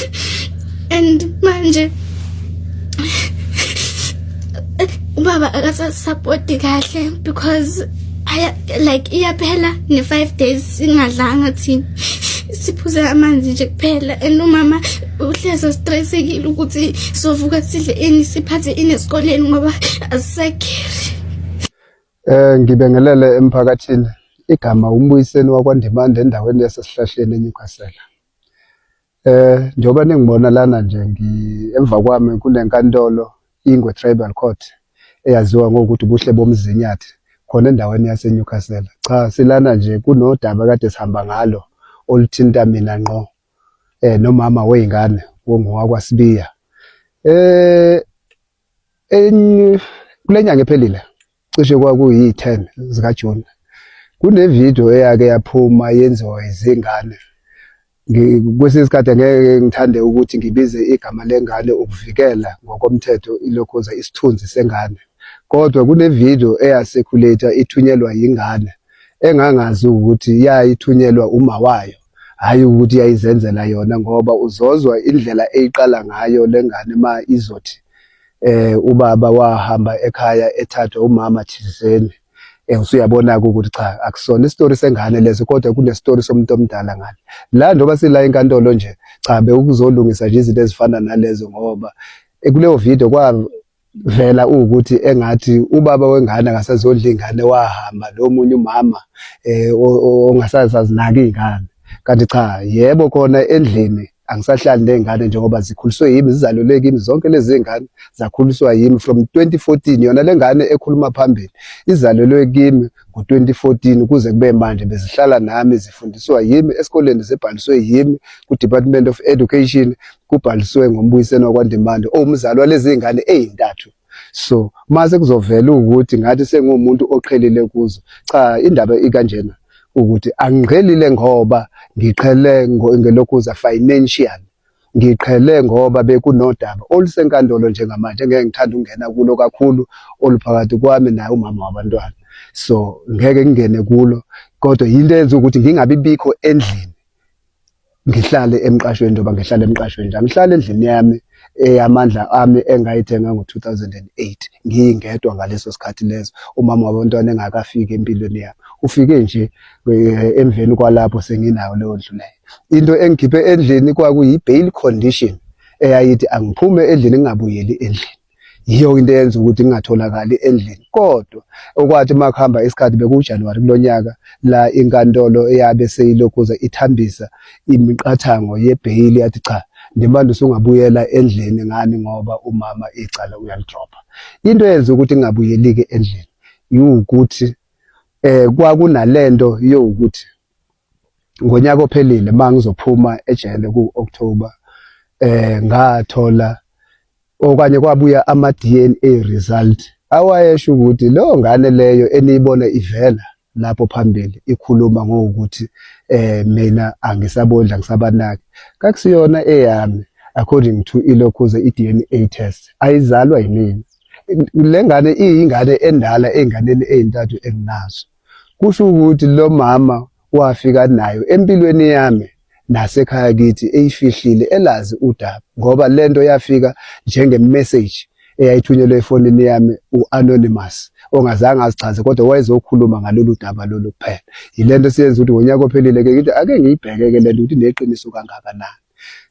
left and manje ubaba akasasapoti kahle because aya like iyaphela ne 5 days singadlanga thina siphuze amanzi nje kuphela and umama uhleze stressekile ukuthi sovuka sidle ini siphathe ini esikoleni ngoba asisekhere eh ngibingelele emphakathini igama umbuyiseni wakwaNdimande endaweni yasesihlahleni eNewcastle Eh njengoba ningibona lana nje ngi emva kwami kunenkantolo ingwe tribal court eyaziwa ngokuthi ubuhle bomzinyathi khona endaweni yaseNewcastle. Cha silana nje kunodaba kade sihamba ngalo oluthinta mina ngqo eh nomama weingane wongowakwaSibiya. Eh Kule nyanga ephelile cishe kwakuyi-10 zikaJuni kunevidiyo eyake yaphuma yenziwa izingane kwesinye isikhathi angeke ngithande ukuthi ngibize igama lengane ukuvikela ngokomthetho ilokhoza isithunzi sengane kodwa kunevidiyo eyasekhulethwa ithunyelwa yingane engangazi ukuthi yayithunyelwa uma wayo hhayi ukuthi yayizenzela yona ngoba uzozwa indlela eyiqala ngayo le ngane ma izothi eh ubaba wahamba ekhaya ethathwa umama thizeni eh usuyabona-ke ukuthi cha akusona isitori sengane leso kodwa kunesitori somuntu omdala ngale la njengoba sila enkantolo nje cha bewukuzolungisa nje izinto ezifana nalezo ngoba eh, kuleyo video vela ukuthi engathi ubaba wengane akasazondla ingane wahamba lo munye umama eh ongasazazinaki ingane kanti cha yebo khona endlini angisahlali nezingane njengoba zikhuliswe yimi zizalelwe kimi zonke lezi zingane zakhuliswa yimi from 2014 yona lengane ekhuluma phambili izalelwe kimi ngo-2014 kuze kube manje bezihlala nami zifundiswa yimi esikoleni zibhaliswe yimi ku-department of education kubhaliswe ngombuyiseni wakwandimande owumzali walezi ngane eyintathu so mase kuzovela ukuthi ngathi sengumuntu oqhelile kuzo cha indaba ikanjena ukuthi angiqhelile ngoba ngiqhele ngelokhuza financial Ngiqhele ngoba bekunodaba olusenkantolo njengamanje ngeke ngithanda ukungena kulo kakhulu oluphakathi kwami naye umama wabantwana. So ngeke ngingene kulo kodwa yinto eyenza ukuthi ngingabi bikho endlini. Ngihlale emqashweni njengoba ngihlala emqashweni nje. Angihlali endlini yami eyamandla ami engayithenga ngo-2008 ngiyingedwa ngaleso sikhathi leso umama wabantwana engakafiki empilweni yami. Ufike nje emveni kwalapho senginayo leyo ndlu leyo into engikhiphe endlini kwakuyi-bail condition eyayithi angiphume endlini ngingabuyeli endlini yiyo into eyenza ukuthi ngingatholakali endlini kodwa okwathi uma kuhamba isikhathi bekuwujanuwari kulo nyaka la inkantolo eyabe seyilokhuza ithambisa imiqathango yebheyili yathi cha ndimanje usungabuyela endlini ngani ngoba umama icala uyalidropha into eyenza ukuthi ngingabuyeli-ke endlini yiwukuthi eh kwakunalento yokuthi ngonyaka ophelile mangizophuma ejele ku October eh ngathola okanye kwabuya ama DNA result awayesho ukuthi lo ngane leyo eniyibona ivela lapho phambili ikhuluma ngokuthi eh mina angisabondla ngisabanaki kakusiyona eyami according to ilokhuze i-DNA test ayizalwa yimina le ngane iyingane endala ey'nganeni ey'ntathu enginazo kusho ukuthi lo mama wafika nayo empilweni yami nasekhaya kithi eyifihlile elazi udaba ngoba le nto yafika njengemeseji eyayithunyelwe efonini yami u-anonymous ongazange azichaze kodwa wayezokhuluma ngalolu daba lolu kuphela yile nto siyenza ukuthi ngonyaka ophelile-ke ngithi ake ngiyibheke-ke le nto ukuthi neqiniso kangakanani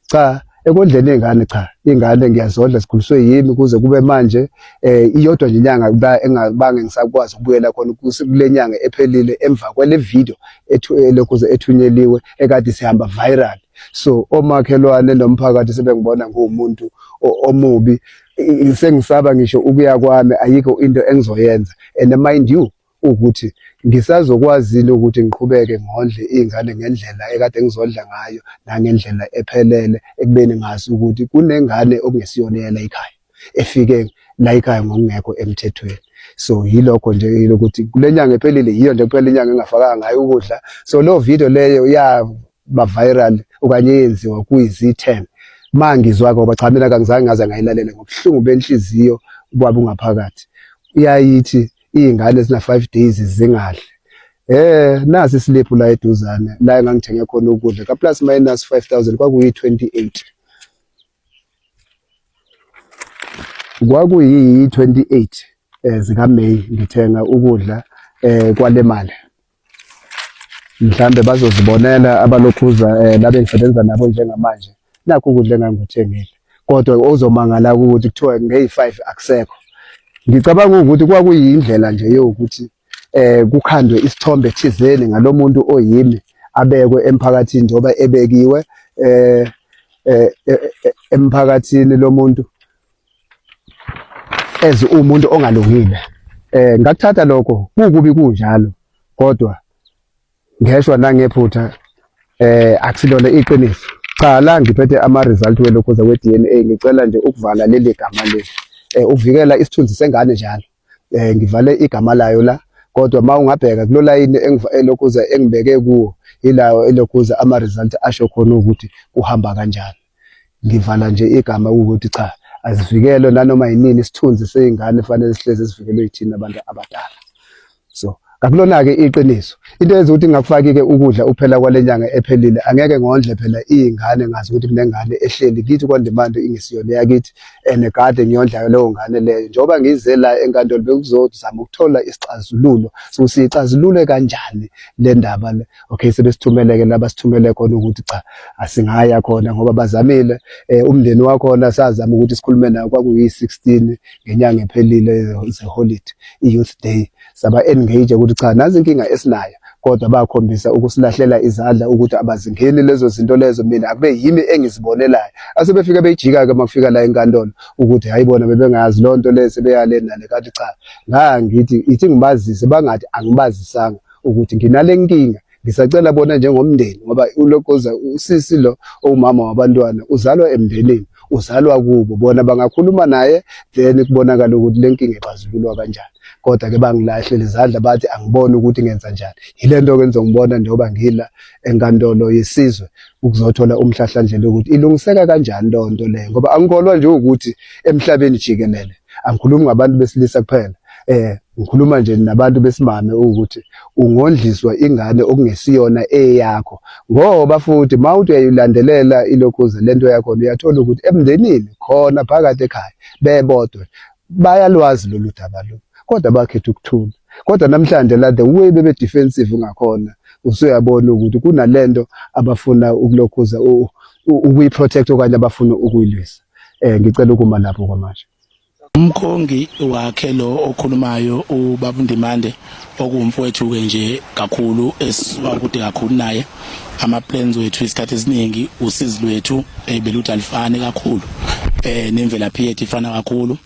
cha ekondleni ingane cha ingane ngiyazodla sikhuliswe yimi kuze kube manje eh iyodwa nje inyanga kuba engabange ngisakwazi ukubuyela khona kulenyanga ephelile emva kwale video ethu eh, lokho ethunyeliwe ekade sihamba viral so omakhelwane nomphakathi sebengibona ngumuntu omubi sengisaba ngisho ukuya kwami ayikho into engizoyenza and mind you ukuthi ngisazokwazile ukuthi ngiqhubeke ngondle iy'ngane ngendlela ekade ngizondla ngayo nangendlela ephelele ekubeni ngazi ukuthi kunengane okungesiyona eyela ikhaya efike la ikhaya ngokungekho emthethweni so yilokho nje lokuthi kule nyanga ephelile yiyo nje kuphela inyanga engafakanga ngayo ukudla so loo video leyo yaba viral okanye yenziwa kwizi-ten ma ngizwa-ke ngoba cha mina kangizange ngaze ngayilalele ngobuhlungu benhliziyo kwaba ungaphakathi iyayithi iy'ngane zina-five days zingadle Eh nasi isiliphu la eduzane la engangithenge khona ukudla ka plus minus 5000 kwakuyi 28 kwakuyi 28 eh zika May ngithenga ukudla eh kwale mali mhlambe bazozibonela abalokhuza um eh, labe ngisebenza nabo njengamanje nakho ukudla engangikuthengile kodwa ozomangala ukuthi kuthiwa ngeyi-five akusekho ngicabanga ukuthi kwakuyindlela nje yokuthi eh kukhandwe isithombe thizeni ngalomuntu oyimi abekwe emphakathini njengoba ebekiwe eh, eh, eh, eh emphakathini lomuntu as umuntu ongalungile eh ngakuthatha lokho kukubi kunjalo kodwa ngeshwa nangephutha eh akusilona iqiniso qala ngiphethe ama result welokhoza we DNA ngicela nje ukuvala leli gama leli eh uvikela isithunzi sengane njalo eh ngivale igama layo la kodwa uma ungabheka kulo layini elokhuza engibeke kuwo ilawo elokhuza ama-result asho khona ukuthi kuhamba kanjani ngivala nje igama ukuthi cha azivikelwe nanoma yinini isithunzi seyingane kufanele sihlezi sivikelwe yithina abantu abadala so Akulona-ke iqiniso. Into eyenza ukuthi ngingakufaki-ke ukudla ukuphela kwale nyanga ephelile angeke ngondle phela iy'ngane ngazi ukuthi kunengane ehleli kithi kwandimande ingesiyona eyakithi and kade ngiyondlayo leyo ngane leyo. Njengoba ngize la enkantolo bekuzozama ukuthola isixazululo sokuthi siyixazulule kanjani le ndaba le. Okay, sebesithumeleke la basithumele khona ukuthi cha asingaya khona ngoba bazamile um umndeni wakhona sazama ukuthi sikhulume nawo kwakuyi-sixteen ngenyanga ephelile zeholidi i-youth day. saba-engage ukuthi cha nazi inkinga esinayo kodwa bakhombisa ukusilahlela izandla ukuthi abazingeni lezo zinto lezo mina akube yimi engizibonelayo asebefike beyijika-ke uma kufika la enkantolo ukuthi hhayi bona bebengazi loo nto le sebeyale nale kanti cha ngangithi ithi ngibazise bangathi angibazisanga ukuthi nginale nkinga Ngisacela bona njengomndeni ngoba ulokoza usisi lo owumama wabantwana uzalwa emndenini uzalwa kubo bona bangakhuluma naye then kubonakala ukuthi le nkinga ixazululwa kanjani kodwa ke bangilahle lezandla bathi angiboni ukuthi ngenza njani yilento ke ngizongibona njengoba ngila enkantolo yesizwe ukuzothola umhlahlandlela ukuthi ilungiseka kanjani lonto leyo ngoba angikholwa nje ukuthi emhlabeni jikelele angikhulumi ngabantu besilisa kuphela eh ngikhuluma nje nabantu besimame ukuthi ungondliswa ingane okungesiyona eyakho ngoba futhi mawuthi uyayilandelela ilokhuze lento yakho uyathola ukuthi emndenini khona phakathi ekhaya bebodwa bayalwazi lolu daba lo kodwa bakhetha ukuthula kodwa namhlanje la the way bebe defensive ngakhona usuyabona ukuthi kunalento abafuna ukulokhuza ukuyi protect okanye abafuna ukuyilwisa eh ngicela ukuma lapho kwamanje umkhongi wakhe lo okhulumayo ubaba Ndimande okuwumfowethu ke nje kakhulu esisuka kude kakhulu naye ama plans wethu isikhathi esiningi usizi lwethu eh, beluthi alifani kakhulu eh nemvelaphi yethu ifana kakhulu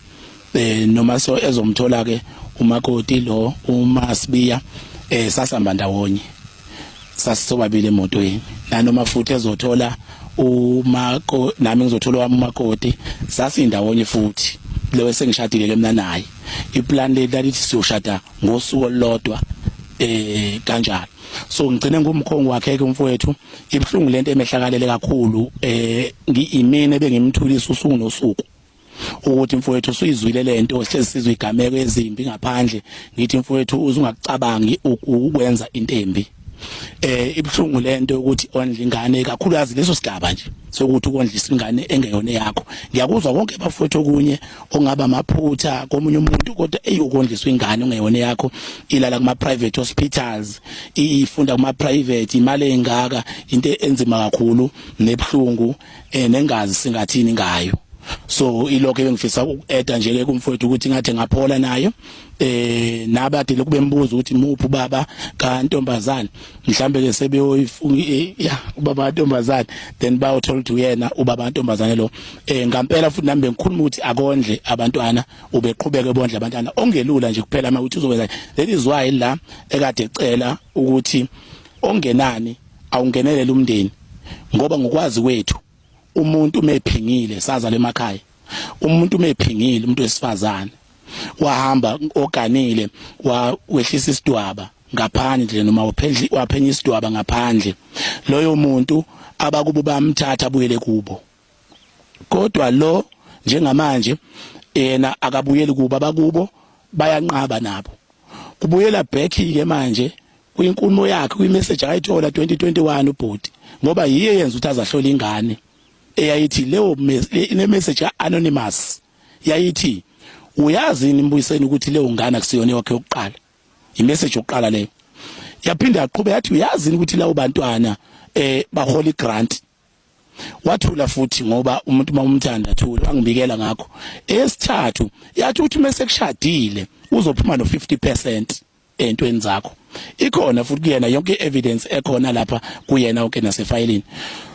eh noma so ezomthola ke umakoti lo uma sibiya eh sasihamba ndawonye sasisobabili emotweni nanoma futhi ezothola umako nami ngizothola wami umakoti sasindawonye futhi lewe sengishadile ke mina naye iplan le lalithi siyoshada ngosuku olodwa eh kanjalo so ngigcine ngumkhongo wakhe ke umfowethu ibhlungu lento emehlakalele kakhulu eh ngiyimene bengimthulisa usuku nosuku ukuthi mfowethu usuyizwile lento sihlezi sizwe igameko ezimbi ngaphandle ngithi mfowethu uzungakucabangi ukwenza into embi eh ibhlungu lento ukuthi ondla ingane kakhulukazi leso sigaba nje sokuthi ukondlisa ingane engeyona yakho ngiyakuzwa konke bafowethu okunye ongaba amaphutha komunye umuntu kodwa eyokondliswa ingane ongeyona yakho ilala kuma private hospitals ifunda kuma private imali engaka into enzima kakhulu nebhlungu eh nengazi singathini ngayo so ilokho ebengifisa ukueda nje ke kumfowethu ukuthi ngathi ngaphola nayo eh nabade lokube mbuzo ukuthi muphi baba kantombazana mhlambe ke sebeyoyifunga eh, ya ubaba ntombazana then bayo tell to yena ubaba ntombazana lo eh ngampela futhi nambe ngikhuluma ukuthi akondle abantwana ubeqhubeke bondle abantwana ongelula nje kuphela uma uthi uzokwenza that is why la ekade ecela ukuthi ongenani awungenelele umndeni ngoba ngokwazi kwethu umuntu umephingile saza lemakhaya umuntu umephingile umuntu wesifazane wahamba oganile wehlisa isidwaba ngaphandle noma waphendla waphenya isidwaba ngaphandle loyo muntu abakubo bamthatha abuyele kubo kodwa lo njengamanje yena akabuyeli kuba bakubo bayanqaba nabo kubuyela back ke manje kwinkulumo yakhe kwimessage ayithola 2021 ubhuti ngoba yiye yenza ukuthi azahlola ingane eyayithi leyo ne message anonymous yayithi uyazi nimbuyiseni ukuthi leyo ngane akusiyona yakhe yokuqala imessage yokuqala leyo yaphinda yaqhubeka yathi uyazi ukuthi lawo bantwana eh bahola igrant wathula futhi ngoba umuntu uma umthanda athula angibikela ngakho esithathu yathi uthi uma sekushadile uzophuma no 50% entweni zakho ikhona futhi kuyena yonke evidence ekhona lapha kuyena onke nasefayilini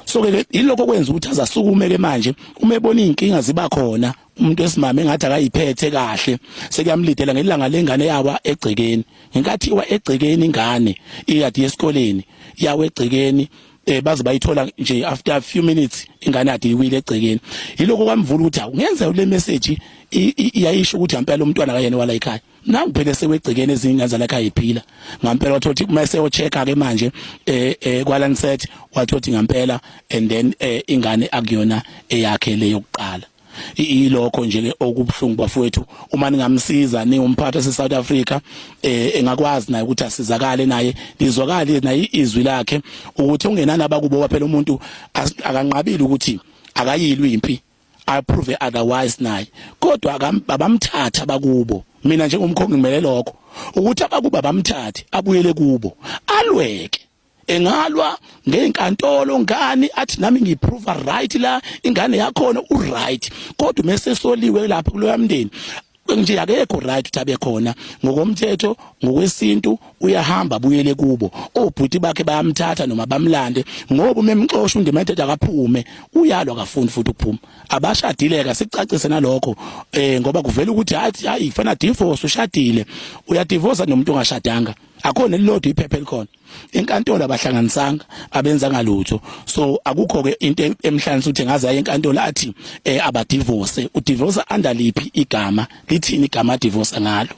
so ke yilokho kwenza ukuthi azasukume ke manje uma ebona izinkinga ziba khona umuntu esimame engathi akayiphethe kahle sekuyamlidela ngelanga lengane yawa egcekeni ngenkathi iwa egcekeni ingane iyadi yesikoleni yawa egcekeni eh baze bayithola nje after a few minutes ingane yakhe iwile egcekeni yiloko kwamvula ukuthi awu ngenza le message iyayisho ukuthi ngempela umntwana kayena wala ekhaya nangu phela sewegcekeni ezingane zalakha iphila ngempela wathothi uma seyo check ke manje eh, eh kwalanset wathothi ngempela and then eh, ingane akuyona eyakhe leyo kuqala ilokho nje okubuhlungu bafowethu uma ningamsiza ningumphathi se South Africa eh engakwazi naye ukuthi asizakale naye lizwakale naye izwi lakhe ukuthi ungenani abakubo phela umuntu akanqabile ukuthi akayilwi impi i prove otherwise naye kodwa abamthatha bakubo mina njengomkhongi ngimele lokho ukuthi abakuba bamthathe abuyele kubo alweke engalwa ngezinkantolo ngani athi nami ngiprove right la ingane yakhona u right kodwa mese soliwe lapha kuloya mndeni nje akekho right ukuthi abe khona ngokomthetho ngokwesintu uyahamba buyele kubo obhuti bakhe bayamthatha noma bamlande ngoba umemxosha undimented akaphume uyalwa akafuni futhi ukuphuma abashadileka sicacise nalokho eh ngoba kuvela ukuthi hayi kufana divorce ushadile uyadivorce nomuntu ongashadanga akho nelilodwa iphepha elikhona enkantolo abahlanganisanga abenza ngalutho so akukho ke into emhlanisa ukuthi ngaze aye enkantolo athi eh, abadivorce udivorce under liphi igama lithini igama divorce ngalo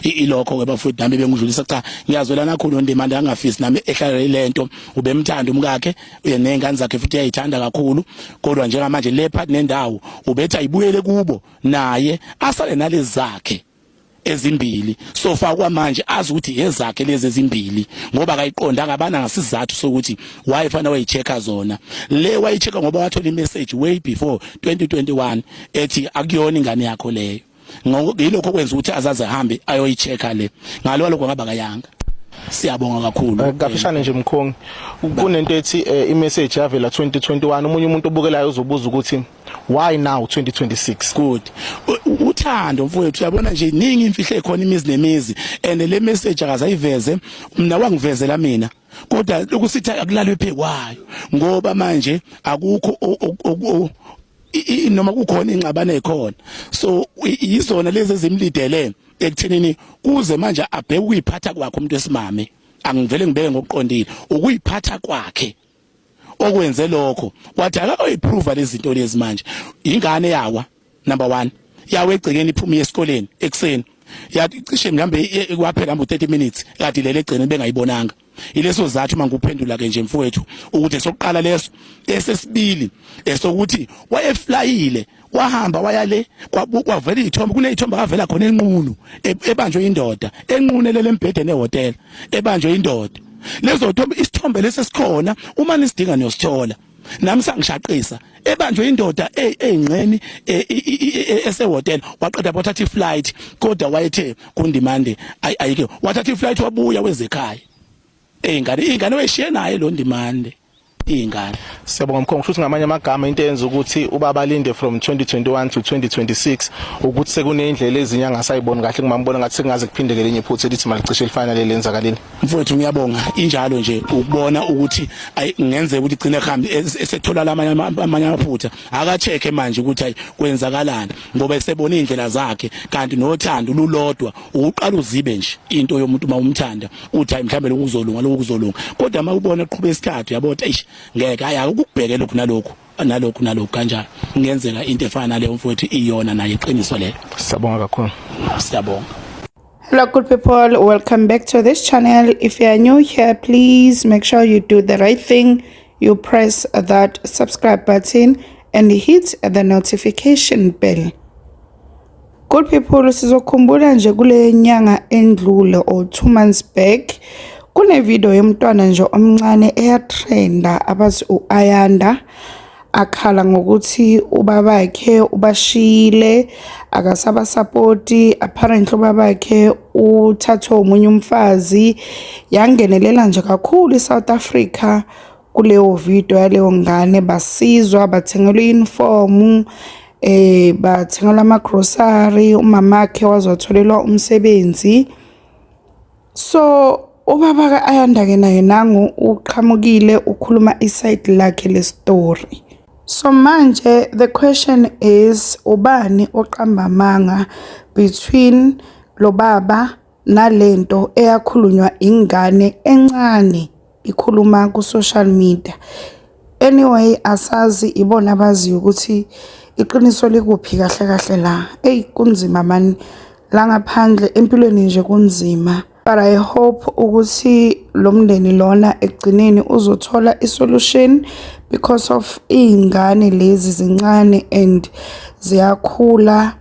ilokho ke bafowethu nami bengidlulisa cha ngiyazwelana kakhulu ndimanda angafisi nami ehlalele lento ubemthanda umkakhe nezingane zakhe futhi uyayithanda kakhulu kodwa njengamanje le part nendawo ubetha ibuyele kubo naye asale nalezakhe ezimbili sofa kwamanje azi ukuthi ezakhe lezi ezimbili ngoba kayiqonda ngabana ngasizathu sokuthi why fana wayichecka zona le wayichecka ngoba wathola imessage way before 2021 ethi akuyona ingane yakho leyo ngilokho kwenza ukuthi azaze hambe ayoyichecka le ngalo lokho ngaba kayanga siyabonga kakhulu eh, kafishane nje mkhongi kunento ethi eh, i message yavela 2021 umunye umuntu obukelayo uzobuza ukuthi why now 2026 good uthando mfowethu uyabona nje iningi imfihlo ekhona imizi nemizi and le message akazayiveze mina wangivezela mina kodwa lokusithi akulalwe phekwayo ngoba manje akukho noma kukhona ingxabano ekhona so yizona lezi ezimlidele ekuthenini kuze manje abheke ukuyiphatha kwakhe umuntu wesimame angivele ngibeke ngokuqondile ukuyiphatha kwakhe okwenze lokho wathi akayoyiprova lezinto lezi manje ingane yawa number 1 yawe egcekeni iphuma esikoleni ekseni yathi cishe mhlambe kwaphela mbu 30 minutes kade lele egcene bengayibonanga ileso zathu mangikuphendula ke nje mfowethu ukuthi sokuqala leso esesibili esokuthi wayeflyile wahamba waya le kwavela izithombe kunezithombe akavela khona enqunu e, ebanjwe indoda enqunelele embhedeni ehotela ebanjwe indoda lezo zithombe isithombe lesesikhona uma nisidinga niyosithola nami sangishaqisa ebanjwe indoda e, engxeni e, esehotela waqeda wathatha iflight kodwa wayethe kundimande ayike wathatha iflight wabuya wezekhaya eyingane ingane weshiye naye lo ndimande iy'ngane siyabonga mkhongo kusho ukuthi ngamanye amagama into eyenza ukuthi ubaba alinde from 2021 to 2026 ukuthi sekuney'ndlela ezinye angasayiboni kahle kumambona ngathi sekungaze kuphindeke lenye iphutha elithi malicishe elifanele lenzakaleni mfowethu ngiyabonga injalo nje ukubona ukuthi ngenzeka ukuthi igcine kuhambe esethola lamanye amanye amaphutha akacheke manje ukuthi ayi kwenzakalani ngoba esebona iy'ndlela zakhe kanti nothando lulodwa uqala uzibe nje into yomuntu uma umthanda uthi hayi mhlawumbe lokhu kuzolunga lokhu kuzolunga kodwa uma ubona eqhubeka isikhathi uyabona eish ngeke hayi ukubheke lokhu nalokhu nalokhu nalokhu kanjani kungenzeka into efana naleyo mfowethu iyona nayo iqiniso lelo siyabonga kakhulu siyabonga Hello good people, welcome back to this channel. If you are new here, please make sure you do the right thing. You press that subscribe button and hit the notification bell. Good people sizokhumbula nje kule nyanga endlule or two months back kune video yomntwana nje omncane eyatrenda abathi u-Ayanda akhala ngokuthi ubabakhe ubashiyile akasabasapoti apparently ubabakhe uthathwe umunye umfazi yangenelela nje kakhulu iSouth Africa kuleyo video yaleyo ngane basizwa bathengelwa iyunifomu eh bathengelwa amagrocery umamakhe wazotholelwa umsebenzi so ubaba ka Ayanda ke naye nangu uqhamukile ukhuluma iside lakhe le story so manje the question is ubani oqamba amanga between lo baba nalento eyakhulunywa ingane encane ikhuluma ku social media anyway asazi ibona abaziyo ukuthi iqiniso likuphi kahle kahle la eyi kunzima mani la ngaphandle empilweni nje kunzima but i hope ukuthi lo mndeni lona ekugcineni uzothola isolution because of iy'ngane lezi zincane and ziyakhula